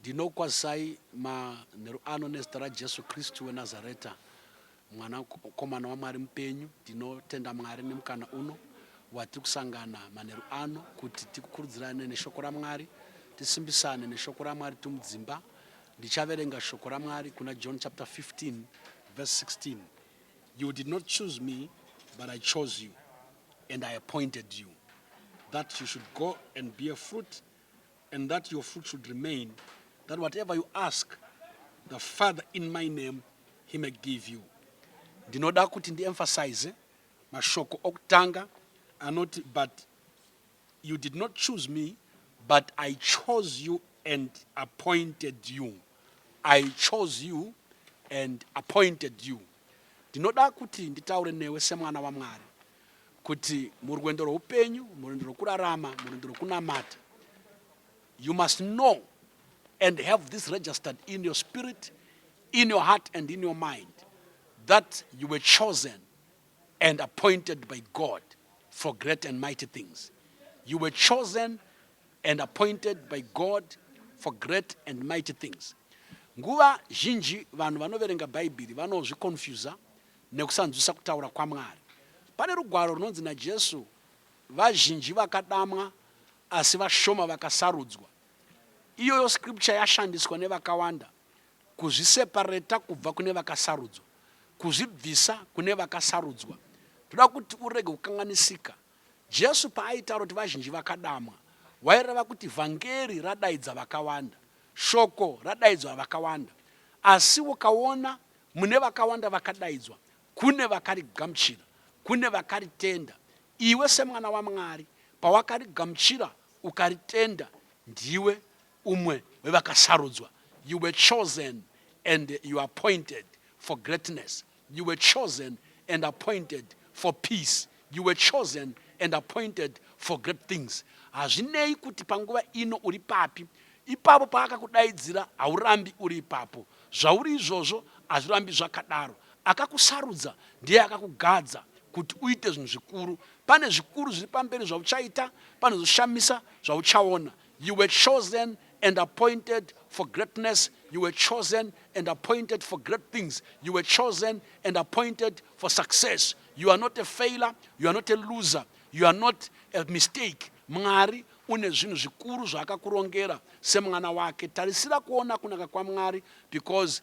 Ndinokwazisai manheru ano nezita raJesu Kristu weNazareta, Mwanakomana waMwari mupenyu. Ndinotenda Mwari nemukana uno watiri kusangana manheru ano kuti tikukurudzirane neshoko raMwari, tisimbisane neshoko raMwari tiri mudzimba. Ndichaverenga shoko raMwari kuna John chapter 15 verse 16. You did not choose me, but I chose you and I appointed you that you should go and bear fruit and that your fruit should remain, that whatever you ask the Father in my name, he may give you. Ndinoda kuti ndiemphasize mashoko okutanga anoti but you did not choose me but I chose you and appointed you. I chose you and appointed you. Ndinoda kuti nditaure newe semwana waMwari kuti murwendo rweupenyu murwendo rwekurarama murwendo rwekunamata you must know and have this registered in your spirit in your heart and in your mind that you were chosen and appointed by God for great and mighty things. You were chosen and appointed by God for great and mighty things. Nguva zhinji vanhu vanoverenga Bhaibheri vanozvikonfuza nekusanzwisisa kutaura kwaMwari. Pane rugwaro runonzi naJesu, Vazhinji vakadamwa, asi vashoma vakasarudzwa. Iyoyo scripture yashandiswa nevakawanda kuzvisepareta kubva kune vakasarudzwa, kuzvibvisa kune vakasarudzwa. Toda kuti urege kukanganisika Jesu paaitaura kuti vazhinji vakadamwa, waireva kuti vhangeri radaidza vakawanda, shoko radaidzwa vakawanda. Asi ukaona mune vakawanda vakadaidzwa, kune vakarigamuchira, kune vakaritenda. Iwe semwana waMwari, pawakarigamuchira ukaritenda, ndiwe umwe wevakasarudzwa. You were chosen and you are appointed for greatness. You were chosen and appointed for peace. You were chosen and appointed for great things. Hazvinei kuti panguva ino uri papi, ipapo paakakudaidzira haurambi uri ipapo. Zvauri izvozvo hazvirambi zvakadaro. Akakusarudza ndiye akakugadza kuti uite zvinhu zvikuru. Pane zvikuru zviri pamberi zvauchaita, pane zvoshamisa zvauchaona. You were chosen and appointed for greatness. You were chosen and appointed for great things. You were chosen and appointed for success. You are not a failure. You are not a loser. You are not a mistake. Mwari une zvinhu zvikuru zvaakakurongera semwana wake. Tarisira kuona kunaka kwaMwari because